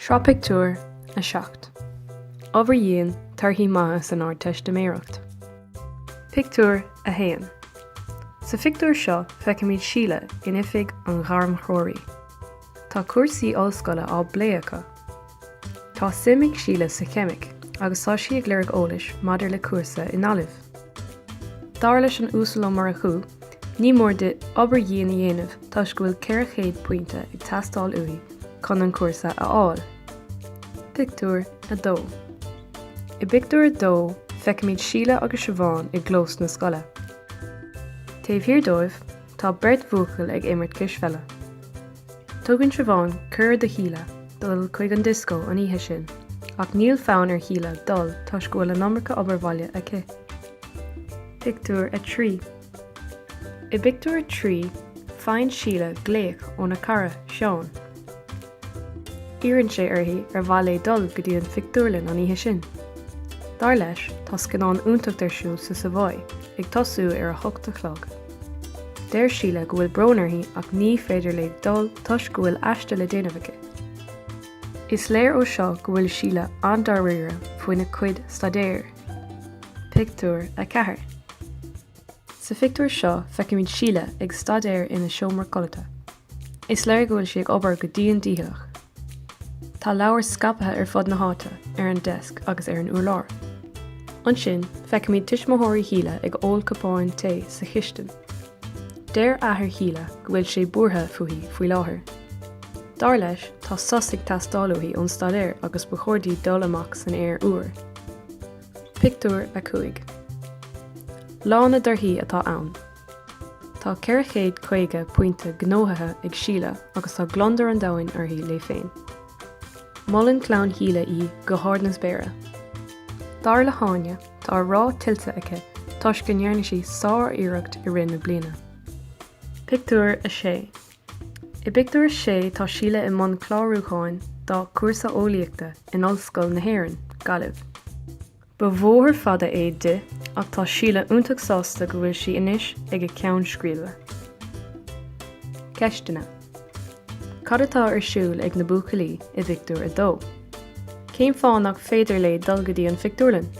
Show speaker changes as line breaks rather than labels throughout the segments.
Sraith pictiúr a seacht. Obair dhian, Torthaí maithe san Ardteistiméireacht. Pictiúr 1 Sa phictiúr seo feicimid Síle in oifig an ghairmthreoraí. Tá cúrsaí ollscoile á bplé acu. Tá suim ag Síle sa cheimic agus tá sí ag lorg eolais maidir le cúrsa i nGaillimh. Dar leis an Uasal Ó Murchú, ní mór di obair dhian a dhéanamh toisc go bhfuil 400 pointe ag teastáil uaithi chun an cúrsa a fháil. Pictiúr 2 I bpictiúr a dó, feicimid Síle agus Siobhán i gclós na scoile. Taobh thiar dóibh, Tá beirt bhuachaill ag imirt cispheile. Tugann Siobhán cuireadh do Shíle dul chuig an dioscó an oíche sin ach níl fonn ar Shíle dul toisc go bhfuil an iomarca obair bhaile aici. Pictiúr 3 I bpictiúr a trí, faigheann Síle glaoch óna cara, Seán. Iarrann sé uirthi ar mhaith léi dul go dtí an phictiúrlann an oíche sin. Dar leis, tá scannán iontach ar siúl sa Savoy ag tosú ar a hocht a chlog. Deir Síle go bhfuil brón uirthi ach ní féidir léi dul toisc go bhfuil aiste le déanamh aici. Is léir ó seo go bhfuil Síle an-dáiríre faoina cuid staidéir. Pictiúr 4 Sa phictiúr seo feicimid Síle ag staidéar ina seomra codlata. Is léir go bhfuil sí ag obair go dian dícheallach. Tá leabhair scaipthe ar fud na háite, ar an deasc agus ar an urlár. Ansin, feicimid tuismitheoirí Shíle ag ól cupáin tae sa chistin. Deir athair Shíle go bhfuil sé buartha fúithi faoi láthair. Dar leis, tá sos ag teastáil uaithi ón staidéar agus ba chóir di dul amach san aer úr. Pictiúr 5 Lá na dtorthaí atá ann. Tá 450 pointe gnóthaithe ag Síle agus tá gliondar an domhain uirthi léi féin. Molann clann Shíle í go hard na spéire. Dar le hÁine, tá rath tuillte aici toisc go ndearna sí sár-iarracht i rith na bliana. Pictiúr 6 I bpictiúr a sé tá Síle i mbun clárúcháin dá cúrsa eolaíochta in Ollscoil na hÉireann, Gaillimh. Ba bhóthar fada é di ach tá Síle iontach sásta go bhfuil sí anois ag a ceann scríbe. Ceisteanna, Cad atá ar siúl ag na buachaillí i bpictiúr a dó? Cén fáth nach féidir léi dul go dtí an phictiúrlann?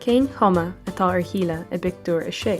Cén chuma atá ar Shíle i bpictiúr a sé?